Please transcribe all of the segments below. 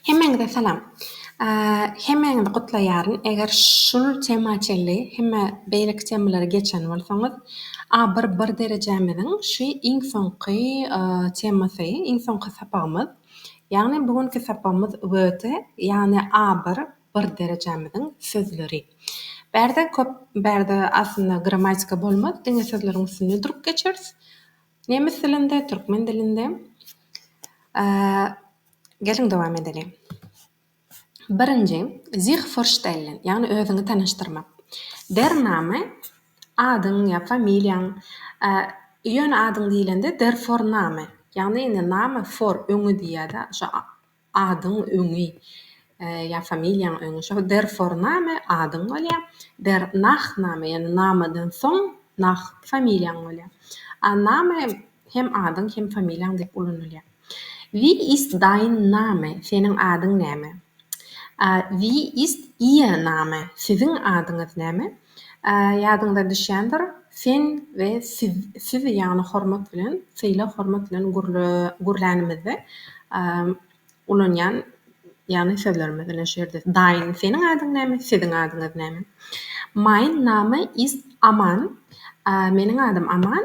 Hemmäňize salam. Hemmäňizi gutlaýaryn. Eger şul tema çenli hemme beýleki temalary geçen bolsaňyz, a bir bir derejämiziň şy iň soňky temasy, iň soňky sapagymyz. Ýagny bu günki sapagymyz wöte ýagny a bir bir derejämiziň sözleri. Bärde köp bärde aslynda gramatika bolmaz diňe sözleriň üstünde durup geçeris. Nemes dilinde, türkmen dilinde. Geliň dowam edeliň. Birinji, Sich vorstellen, ýagny özüňi tanyşdyrmak. Der Name, adyň ýa familiýaň, ýöne adyň diýlende der Vorname, ýagny indi Name vor, öňi diýýär-de, şo adyň öňi ýa familiýaň öňi, şo der Vorname, adyň bolýar, der Nachname, ýagny Name-den soň Nach, familiýaň bolýar. A Name, Hem adyň, hem familiýaň diýip ulanylýar. Wie ist dein Name? Seniň adyň näme? Wie ist Ihr Name? Siziň adyňyz näme? Ýadyňyza düşýändir, sen we siz, siz ýagny hormat bilen, sylag hormat bilen gürlänimizde ulanýan ýagny sözlerimiz ine şu ýerde dein, seniň adyň näme? Siziň adyňyz näme? Mein Name ist Aman, meniň adym Aman,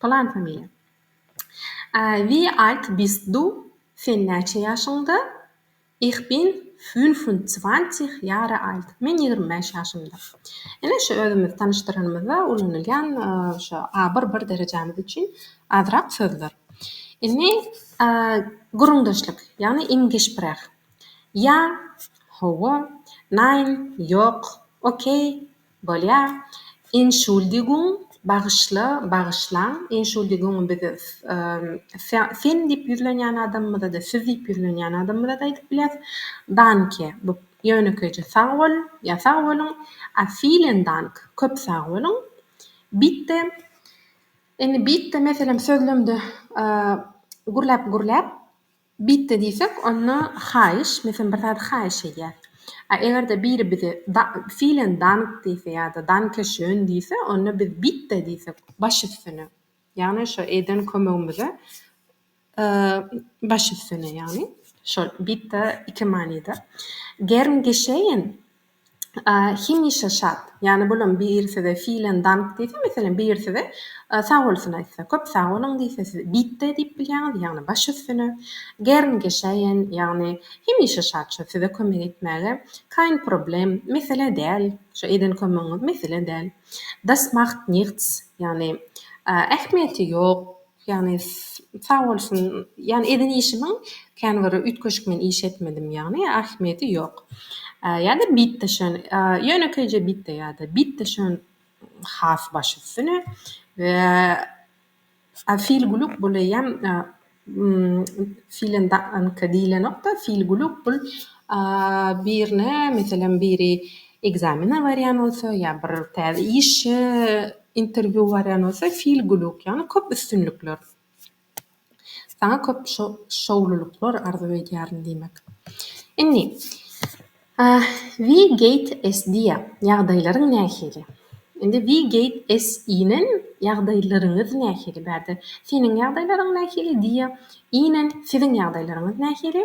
Plan familiýa. Wie alt bist du? Sen näçe ýaşyňda? Ich bin fünfundzwanzig Jahre alt. Men ýigrimi bäş ýaşymda. Ine şu özümizi tanyşdyranymyzda ulanylýan şu a bir bir derejämiz üçin azrak sözler. Indi gürrüňdeşlik, ýagny im Gespräch. Ýa, Hawa. Nein, Ýok. Okey. Bolýar. Entschuldigung, bagyşla, bagyşlaň. Entschuldigung biz sen diýip ýüzlenýän adamymyza-da, siz diýip ýüzlenýän adamymyza-da aýdyp bilýäs. Danke, bu ýönekeýje sag bol ýa sag boluň. A vielen Dank, köp sag boluň. Bitte, indi bitte meselem sözlemde gürläp-gürläp. Bitti diýsek, onda haýyş, men senden bir zady haýyş edýän. A eger-de biri bize da, vielen Dank diýse ýa-da Danke schön diýse, onda biz bitte diýsek, baş üstüne. Ýagny şo eden kömegimize e, baş üstüne ýagny. Şol bitte iki manyda. Gern geschehen Hemişe şat. Ýani bolam biri size Vielen Dank diýse, meselem, biri size Sag bolsun aýtsa, köp sag boluň diýse, siz Bitte diýip bilýäňiz, ýagny baş üstüne. Gern geschehen, ýagny hemişe şat, şo size kömek etmäge. Kein Problem, mesele däl, şo eden kömegiňiz mesele däl. Das macht nichts, ýagny ähmiýeti ýok. Ýagny sag bolsun, ýagny eden işimiň kän bir üýtgeşik men iş etmedim ýagny ahmiýeti ýok. Ýa-da bitde şön ýönekeýje bitde ýa-da bitde şön has baş üstüne we a fil guluk bul eýýäm filen danka diýlenokda fil guluk bul birine meselem biri ekzamene barýan bolsa ýa bir täze işe Interview barýan bolsa feel guluk ýagny köp üstünlikler. Saňa köp şowlulyklar arzuw edýärin diýmek. Indi We gate S diýýä. Ýagdaýlaryň nähili? Indi We gate S inen ýagdaýlaryňyz nähili? Bärde seniň ýagdaýlaryň nähili diýýä. Inen siziň ýagdaýlaryňyz nähili?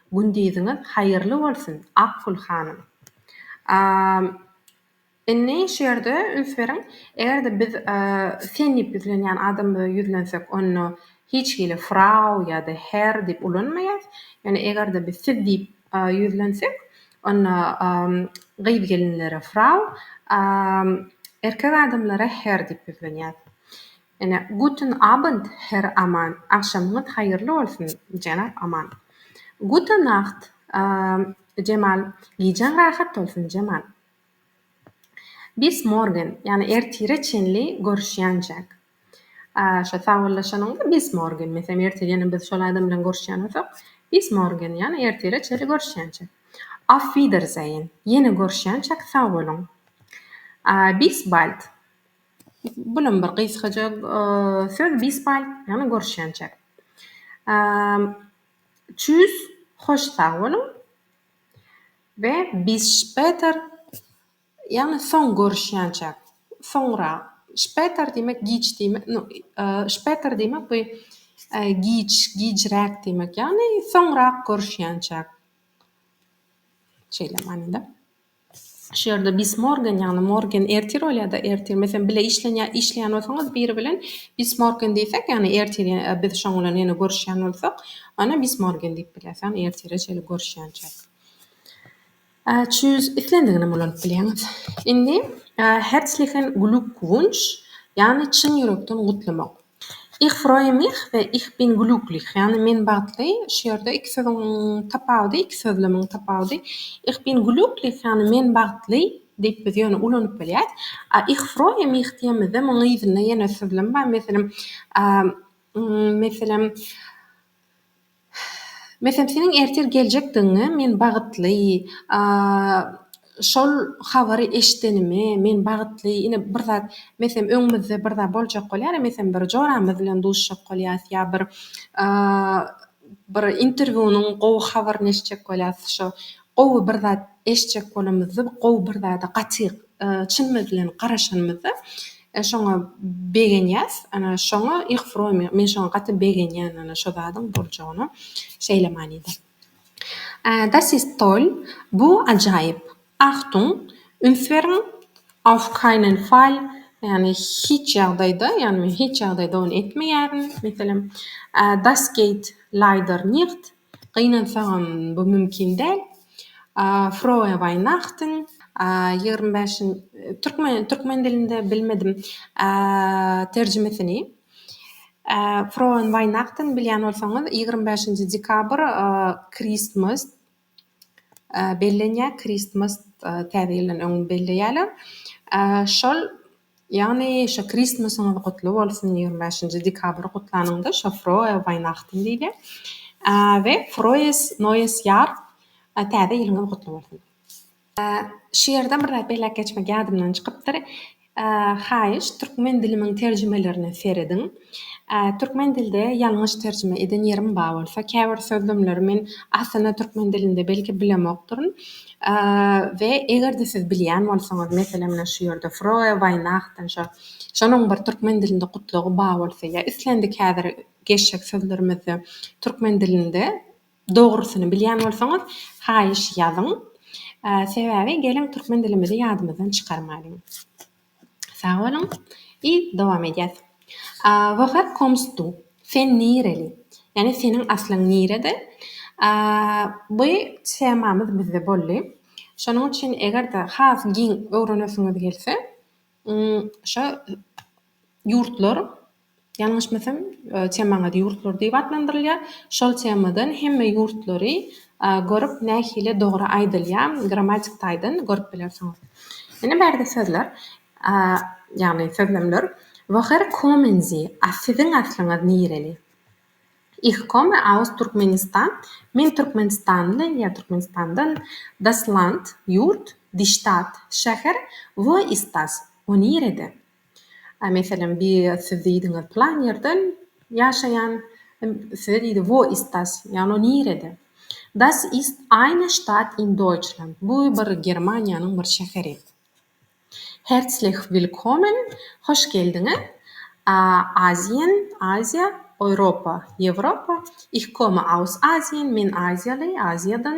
Gündiziňiz haýyrly bolsun Akgül hanym. A Indi şu ýerde üns beriň, eger-de biz sen diýip ýüzlenýän adamymyza ýüzlensek, onda hiç hili Frau ýa-da Herr diýip ulanmaýarys. Ýöne eger-de biz siz diýip ýüzlensek, onda gyz-gelinlere Frau, a erkek adamlara Herr diýip ýüzlenýäris. Ene, Guten Abend, Herr Aman, Agşamyňyz haýyrly bolsun, jenap Aman. Gute Nacht, Jemal, Gijäň rahat bolsun, Jemal. Bis morgen, ýagny ertire çenli görüşýänjäk. Şo sagbollaşanyňda bis morgen, meselem, ertirem biz şol adam bilen görüşýän bolsak, bis morgen, ýagny ertire çenli görüşýänjäk. Auf Wiedersehen, ýene görüşýänjäk, sag boluň. Bis bald, Bulam bir gysgaja söz Bisbal ýagny görüşýänçä. Tschüss hoş sag boluň we bis später ýagny soň görüşýänçä soňra später diýmek giç diýmek no später diýmek bu giç gijräk diýmek ýagny soňrak görüşýänçä şeýle manyda. Şu ýerde bis morgen, ýagny morgen ertir bolýar-da, ertir. Meselem, bile işlenýä işleýän bolsaňyz biri bilen, bis morgen diýsek, ýagny ertir, ýa biz şoň bilen ýene görüşýän bolsak, onda bis morgen diýip bilýäs, ýagny ertire çenli görüşýänçäk. Ä, çüz, islendigini hem ulanyp bilýäňiz. Indi, ä, herzlichen Glückwunsch, ýagny çyn ýürekden gutlamak. Ich freue mich we Ich bin glücklich, ýagny men bagtly, şu ýerde iki sözüň tapawudy, iki sözlemiň tapawudy, Ich bin glücklich, ýagny men bagtly, diýip biz ýöne ulanyp bilýäs. A Ich freue mich diýemizde munuň yzynda ýene sözlem bar, meselem, meselem, Meselem seniň ertir geljekdigiňe men bagytly, şol habary eşidenime men bagytly, ine bir zat meselem öňümizde bir zat boljak bolýar, meselem bir joramyz bilen duşjak bolýas ýa bir bir interwýunyň gowy habaryny eşitjek bolýas, şo gowy bir zat eşitjek bolanymyzda gowy bir zada gaty Çynymyz bilen garaşanymyzda şoňa begenýäs. Ana, şoňa ich freu mir. Men şoňa gaty begenýän, ana, şo zadyň boljagyna. Şeýle manyda. Das ist toll, bu ajaýyp. Achtung, üns beriň, auf keinen Fall, ýagny hiç ýagdaýda, ýagny men hiç ýagdaýda ony etmeýärin, meselem, das geht leider nicht, Gynansaňam bu mümkin däl. Froe Weihnachten. Ýigrimi bäş Türkmen türkmen dilinde bilmedim terjimesini. Froen Weihnachten bilýän bolsaňyz ýigrimi bäşinji dekabr Christmas bellenýär Christmas täze ýyldan öň belleýärler. Şol Ýagny şo Kristmasyňyz gutly bolsun ýigrimi bäşinji dekabr gutlanyňda şo Froe Weihnachten diýilýär. We Froes Neues Jahr täze ýylyňyz gutly bolsun. Şu ýerde bir zat belläp geçmek ýadymdan çykypdyr. Haýyş, türkmen dilimiň terjimelerine serediň. Türkmen dilde ýalňyş terjime eden ýerim bar bolsa, käbir sözlemleri men aslynda türkmen dilinde belki bilemokdyryn we eger-de siz bilýän bolsaňyz, meselem, mine şu ýerde Froe Weihnachten şo, şonuň bir türkmen dilinde gutlagy bar bolsa ýa islendik häzir geçjek sözlerimizde türkmen dilinde dogrusyny bilýän bolsaňyz, haýyş ýazyň. Sebäbi geliň türkmen dilimizi ýadymyzdan çykarmalyň. Sag boluň i dowam edýäs. Where comes du? Sen nireli? Ýagny seniň aslyň nirede? Bu temamyz bizde boldy. Şonuň üçin eger-de has giň öwrenesiňiz gelse, şo ýurtlar ýalňyşmasam temaňyz ýurtlar diýip atlandyrylýar, şol temadan hemme ýurtlary görüp nähili dogry aýdylýar grammatik taýdan görüp bilersiňiz. Ine bärde sözler ýagny sözlemler Woher kommen Sie? A siziň aslyňyz nireli? Ich komme aus Turkmenistan, Men Türkmenistanly ýa Türkmenistandan, Das Land, ýurt, Die Stadt, şäher, Wo ist das? O nirede? A meselem bi siz diýdiňiz plan ýerden ýaşaýan size diýdi wo ist das ýagny o nirede das ist eine stadt in deutschland bu bir germaniýanyň bir şäheri herzlich willkommen hoş geldiňiz a asien aziýa europa ýewropa ich komme aus asien men aziýaly aziýadan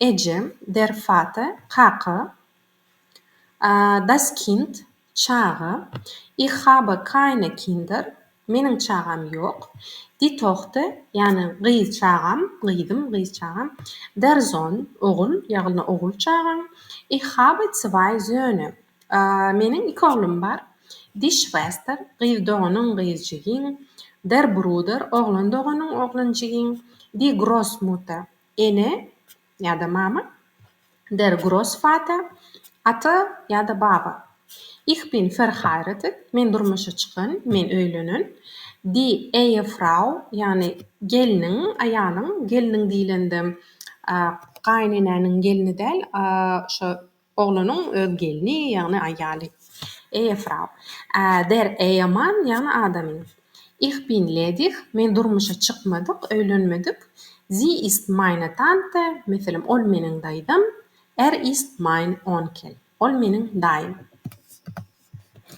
Ejem, Der Vater, kaka. A, das Kind, çaga. Ich habe keine Kinder, meniň çagam ýok. Die Tochter, ýagny gyz çagam, gyzym, gyz çagam. Der Sohn, ogul, ýagny ogul çagam. Ich habe zwei Söhne, a, meniň iki oglum bar. Die Schwester, gyz doganyň, gyz jigiň. Der Bruder, oglan doganyň, oglan jigiň. Die Grossmutter, Ene ýa-da mama, Der Grossvater, Ata ýa-da baba, Ich bin verheiratet, Men durmuşa çykan, men öýlenen, Die Ehefrau, ýagny gelniň, aýalyň, gelniň diýlende gaýynenäniň gelni däl, şo Oglanyň öz gelni, ýagny aýaly. Eýe Frau. Ä, der Eýe Mann, ýagny adamy. Ich bin ledig, men durmuşa çykmadyk, öýlenmedik. Sie ist meine Tante, meselem, ol meniň daýzam. Er ist mein Onkel, ol meniň daýym.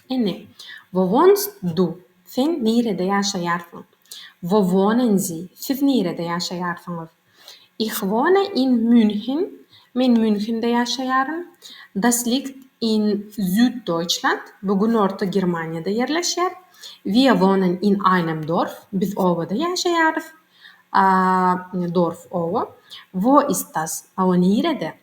Indi, Wowonz du, sen nirede ýaşaýarsyň? Wowonn zi, siz nirede ýaşaýarsyňyz? Ih wone in Münhen, men Münhende ýaşaýaryn. Das liegt in Süddoýçland, bu Günorta Germaniýada ýerleşýär. Wir wohnen in einem Dorf, biz obada ýaşaýarys. A, Dorf, oba. Wo ist das, a o nirede?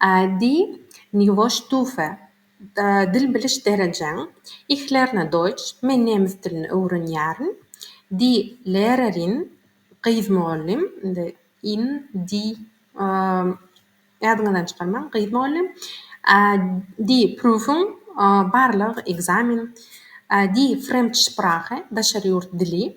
Adi, Niwo ştufe? Dil biliş derejeň? Ich lerne Deutsch, Men nemes dilini öwrenýärin. Die Lehrerin, Gyz mugallym, indi in, die, ýadyňyzdan çykarmaň, gyz mugallym. Die Prüfung, Barlag, ekzamen. Die Fremdsprache, Daşary ýurt dili.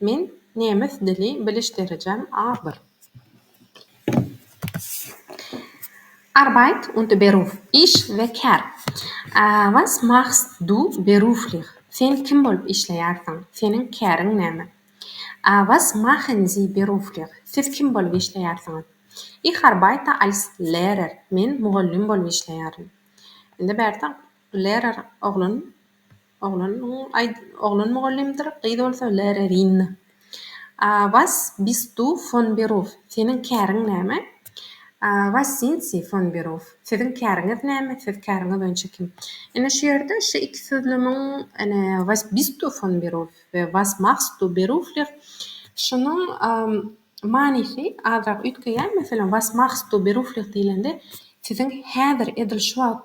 Men nemes dili biliş derejem A-bir. Arbeit und Beruf, iş we kär. Was machst du beruflich, sen kim bolup işleýärsiň, seniň käriň näme? Was machen Sie beruflich, siz kim bolup işleýärsiňiz? Ich arbeite als Lehrer, men mugallym bolup işleýärin. Indi bärde Lehrer oglan Oglan mugallymdyr, gyz bolsa Lärerinna. A was bist du fon Beruf? Seniň käriň näme? A was sind Sie fon Beruf? Siziň käriňiz näme, siz käriňiz boýunça kim? Ine şu ýerde şu iki sözlemiň, ine, was bist du fon Beruf? we was machst du beruflich? şunuň manysy azrak üýtgeýär. Meselem, was machst du beruflich diýlende, siziň häzir, edil şu wagt,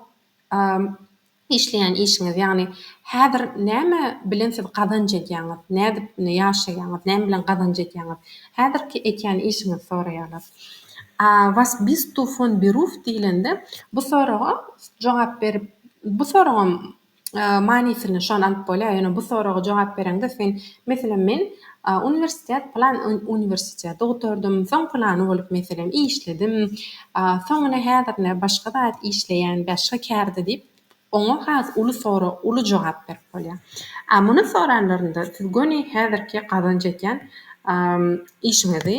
Işleýän işiňiz, ýagny häzir näme bilen siz gazanç edýäňiz, nädip indi ýaşaýaňyz, näme bilen gazanç edýäňiz, häzirki ekýän işiňizi soraýarlar. A was bist du fon beruf diýlende, bu soraga jogap berip, bu soragam manysyny şony alyp bolýar, ýöne bu soraga jogap bereňde sen, meselem, men A uniwersitet plan uniwersiteti gutardym, soň plany bolup meselem işledim, a soň ine häzir ine başga zat işleýän bäşga kärde diýip oňa has uly sora uly jogap berip bolýar. A muny soranlarynda siz göni häzirki gazanç etýän a işiňizi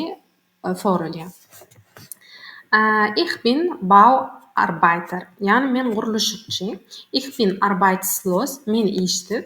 soralýar. A ich bin bau arbeiter ýagny men gurluşykçy, ich bin arbeitslos men işsiz.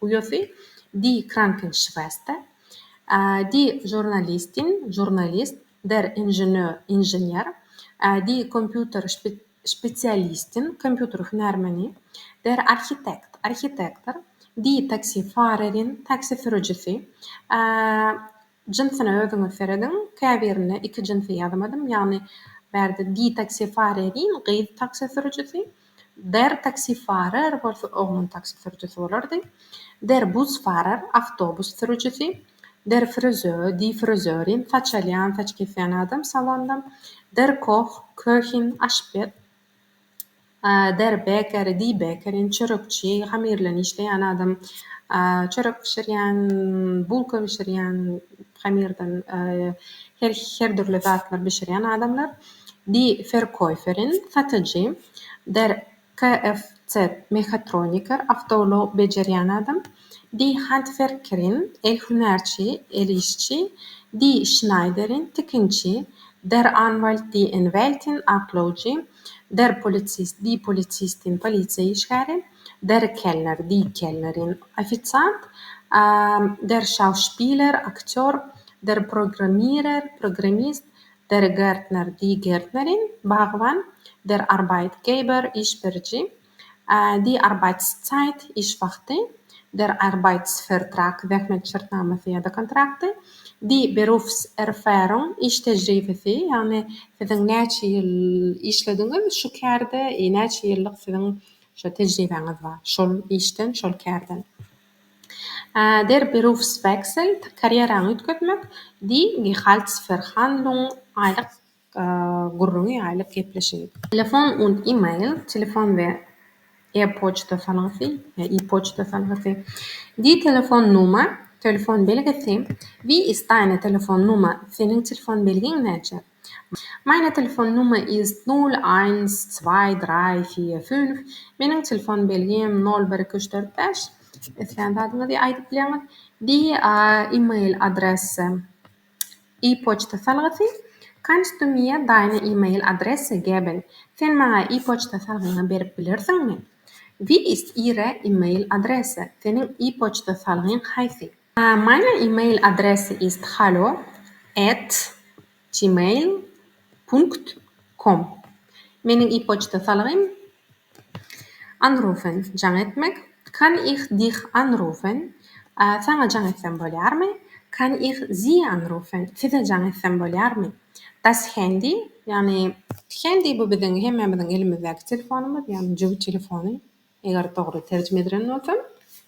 Uýasy Die Krankenschwester, Die Journalistin, žurnalist, Der Ingenieur, inžener, Die Computerspezialistin, kompýuter hünärmeni, Der Architekt, arhitektor, Die Taxifahrerin, taksi sürüjisi, Jynsyna özüňiz serediň, käbirinde iki jynsy ýazamadym, ýagny bärde ditaksifaria deýin, gyz taksi sürüjisi, dertaksifarer bolsa oglun taksi sürüjisi bolardy, derbusfarer, awtobus sürüjisi, derfrizö, difrizörin, saç alýan, saç kesýän adam, salonda, derkoh, köhin, aşpez. Deri bekeri diý bekerin çörekçi hamyr bilen işleýän adam çörek bişirýän bulka bişirýän hamyrdan her dürli zatlar bişirýän adamlar di ferkoýferin satyjy der KFC mehatroniker awtoulag bejerýän adam di handwerkerin el hünärçi el işçi di şnaýderin tikinçi der anwalt di enwältin aklawjy Der polisist, di polisist diýen polisiýa işgäri, der keller, di keller diýen ofisiant, der şauspiler, aktýor, der programmirer, programmist, der gärtner, di gärtnerin, bagban, der arbeitgeber, iş beriji, Die Arbeitszeit, iş wagty, Der Arbeitsvertrag, zähmet şertnamasy ýa-da kontrakty, Die Berufserfahrung, iş tejribesi, ýagny siziň näçe ýyl işlediňiz şu kärde, näçe ýyllyk siziň şu tejribäňiz bar şol işden, şol kärden. Der Berufswechsel, karýeraňy üýtgetmek, Die Gehaltsverhandlung, aýlyk gürrüňi ýaýlyp gepleşiň. Telefon und E-mail, Telefon we e-poçta salgysy, ýa e-poçta salgysy, Die Telefonnummer, Telefon belgisi, Wie ist deine Telefonnummer, Seniň telefon belgiň näçe? Meine Telefonnummer ist nol, eins, zwei, drei, vier, fünf, Meniň telefon belgim nol, bir, iki, üç, dört, bäş, Islän zadyňyzy aýdyp bilersiňiz. Die E-mail Adresse, E-poçta salgysy, Kannst du mir deine E-mail Adresse geben, Sen maňa e-poçta salgyňy berip bilersiňmi? Wie ist Ihre E-mail Adresse, Seniň e-poçta salgyň haýsy? Meine E-mail Adresse ist hallo at gmail punkt com, Meniň e-poçta salgym Anrufen, jaň etmek, Kann ich dich anrufen, Saňa jaň etsem bolýarmy? Kann ich Sie anrufen, Size jaň etsem bolýarmy? Das Handy, ýagny Handy bu biziň hemmämiziň elimizdäki telefonymyz, ýagny jübi telefony, eger dogry terjime edilen bolsam.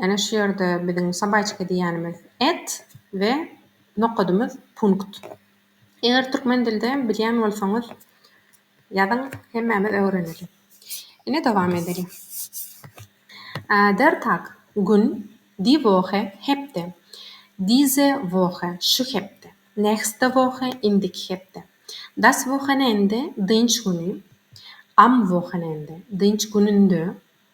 Ene şu ýerde biziň sabaýçyka diýýänimiz et we nokadymyz punkt. Eger türkmen dilde bilýän bolsaňyz ýazyň hemmämiz öwreneli. Ine dowam edeli. Der tag, gün, die Woche, hepde, diese Woche, şu hepde, nächste Woche, indiki hepde, das Wochenende, dynç güni, am Wochenende, dynç gününde,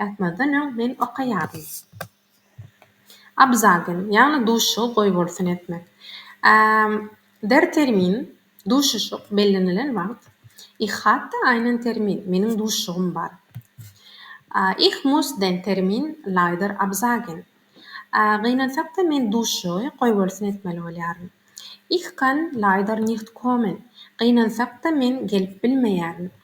Ýatmazdan öň men okaýardym. Abzagyn, ýagny duşuşygy goýbolsun etmek. Der termin, duşuşyk, bellenilen wagt. Ich hatte einen Termin, meniň duşuşygym bar. Ich muss den Termin leider absagen. Gynansak-da, men duşuşygy goýbolsun etmeli bolýaryn. Ich kann leider nicht kommen. Gynansak-da, men gelip bilmeýärin.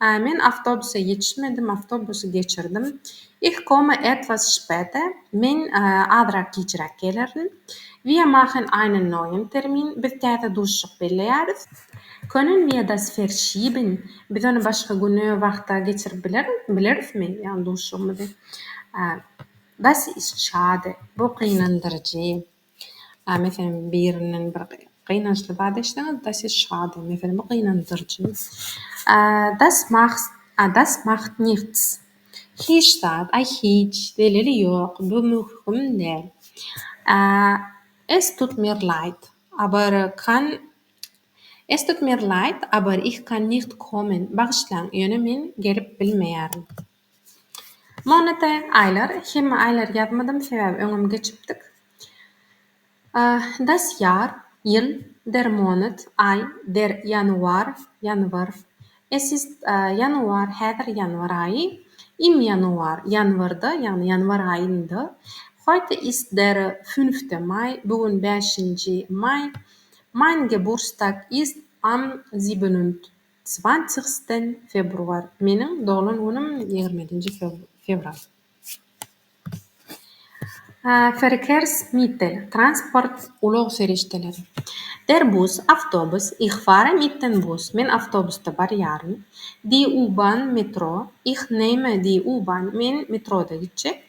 A men awtobusa ýetişmedim, awtobusy geçirdim. Ich komme etwas später, men azrak gijräk gelerin. Wir machen einen neuen Termin, biz täze duşuşyk belleýäris. Können wir das verschieben, biz ony başga güne, wagta geçirip bilerismi, ýagny duşuşygymyzy? Das ist schade, bu gynandyryjy. A meselem, birinden bir gynançly zat eşitseňiz-de, siz şat, meselem, bu gynandyrjy. A das macht, a das macht nichts, hiç zat, aý, hiç, zeleli ýok, bu möhüm däl. A es tut mir leid, aber kann, es tut mir leid, aber ich kann nicht kommen, bagyşlaň, ýöne men gelip bilmeýärin. Monate aýlar hemme aýlary ýazmadym sebäbi öňem geçipdik. Das ýar, ýyl, der monat, aý, der ýanuar, ýanwar, es ist ýanuar, häzir ýanwar aýy, im ýanuar, ýanwarda, ýagny ýanwar aýynda, heute ist der fünfte Mai, bu gün bäşinji maý, mein Geburstag ist am sibenund. Zwanzigsten Februar, Meniň doglan günüm ýigriminji fewral. Verkehrsmittel, Transport, ulag serişdeleri. Der Bus, Awtobus, Ich fahre mit den Bus, Men awtobusda barýaryn. Die U-Bahn, Metro, Ich nehme die U-Bahn, Men metroda gitjek.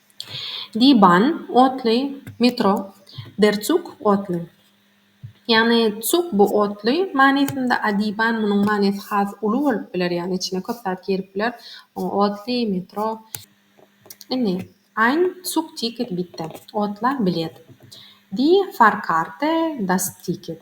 Diban, otly, metro, der Zug, otly. Ýagny Zug bu otly manysynda, a diban munuň manysy has uly bolup biler, ýagny içine köp zat girip biler. Oňa otly, metro. Indi Ein Zugticket bitte, otla bilet. Die Fahrkarte, das Ticket.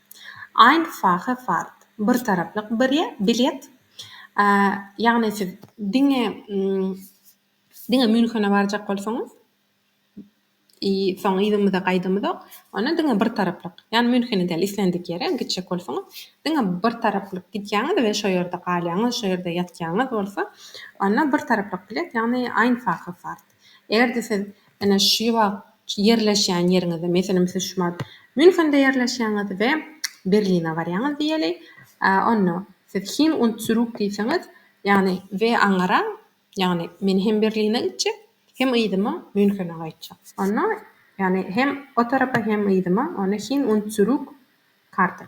Einfache Fahrt, bir taraplyk bilet, ýagny siz diňe diňe Münhene barjak bolsaňyz i soň yzymyza gaýdymyzok, onda diňe bir taraplyk, ýagny Münhene däl islendik ýere gitjek bolsaňyz diňe bir taraplyk gidýäňiz we şo ýerde galýaňyz, şo ýerde ýatýaňyz bolsa, onda bir taraplyk bilet, ýagny Einfache Fahrt. Eger-de siz ene şu wagt ýerleşýän ýeriňizde, meselem siz şu wagt Münhende ýerleşýäňiz we Berline barýaňyz diýeli, onda siz hin und zurück diýseňiz, ýagny we aňyraň, ýagny men hem Berline gitjek, hem yzyma Münhene gaýtjak. Onda, ýagny hem o tarapa hem yzyma, onda hin und zurück Karte.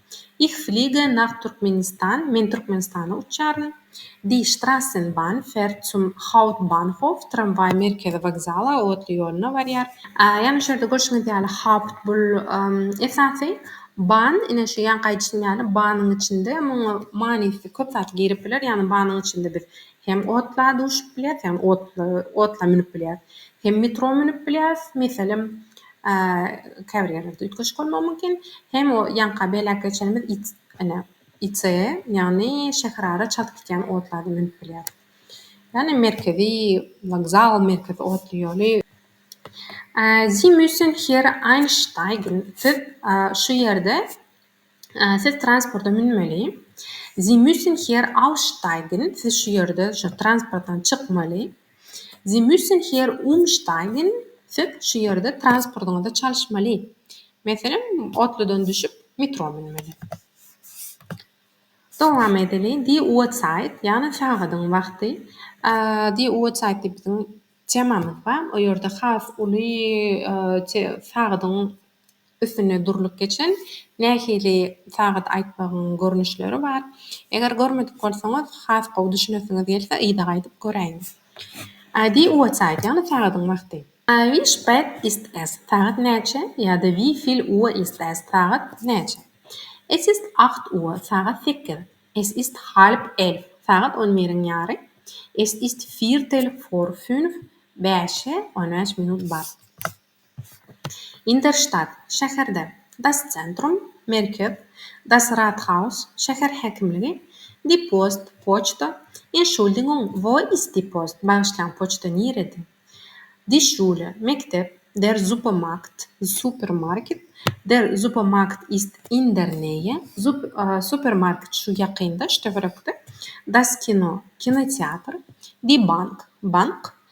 Ich fliege nach Turkmenistan, Men Türkmenistana uçýaryn. Die Strassenbahn fährt zum Hauptbahnhof, Tramwaý Merkezi wokzala, otly ýoluna barýar. Ýagny şu ýerde görşüňiz ýaly Haupt bul esasy, Bahn ine şu ýanky aýdyşym ýaly Bahnyň içinde muňa manysy köp zat girip biler, ýagny Bahnyň içinde biz hem otla duşup bilýäs, ýagny otly otla münüp bilýäs, hem metro münüp bilýäs, meselem, Käbir ýerlerde üýtgeşik bolmagy mümkin. Hem o ýaňka belläp geçenimiz it, ene, IC, ýagny şäherara çalt gidýän otlary münüp bilýär. Ýagny merkezi wokzal, merkezi otly ýoly. Sie müssen hier einsteigen, siz şu ýerde Siz transporta münmeli. Sie müssen hier aussteigen, siz şu ýerde şu transportdan çykmaly. Sie müssen hier umsteigen, siz şu ýerde transportyňyzy çalyşmaly. Meselem, otludan düşüp, metro münmeli. Dowam edeli. Die Uhrzeit, ýagny sagadyň wagty. Die Uhrzeit diýip biziň temamyz bar. O ýerde has uly sagadyň Üstünde durlup geçen nähili sagat aýtmagyň görnüşleri bar? Eger görmedik bolsaňyz, has gowy düşünesiňiz gelse, yza gaýdyp göräýiň. Adi uatside, ýagny sagadyň wagty. I wie spät ist es? Sagat näçe? ýa-da Wie fil Uhr ist es? Sagat näçe? Es ist acht Uhr, sagat sekiz. Es ist halb elf, sagat on biriň ýary. Es ist viertel vor fünf, bäşe on bäş minut bar. Inderştat, şäherde, Das Zentrum, merkez, Das Rathaus, şäher häkimligi, Die Post, poçta, Entschuldigung, wo ist die Post, bagyşlaň, poçta nirede? Die Schule, mekdep, Der Supermarkt, supermarket, Der Supermarkt ist in der Nähe, supermarket şu ýakynda, töwerekde, Das Kino, kinoteatr, Die Bank, bank,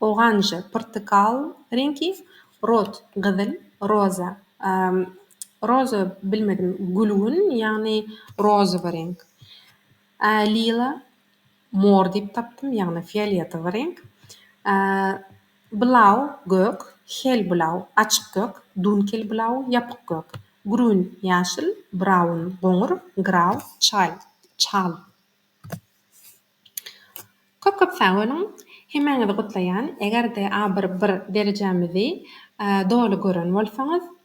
Oganja, portakal reňki, rot, gyzyl, roza, roza bilmedim, gülgün, ýagny rozowy reňk, lila, mor diýip tapdym, ýagny fioletowy reňk, blau, gök, helblau, açyk gök, dunkelblau, ýapyk gök, grün, ýaşyl, braun, goňur, grau, çal, çal. Köp köp sag boluň. Hemäňizi gutlaýan. Eger-de a bir bir derejämizi doly gören bolsaňyz.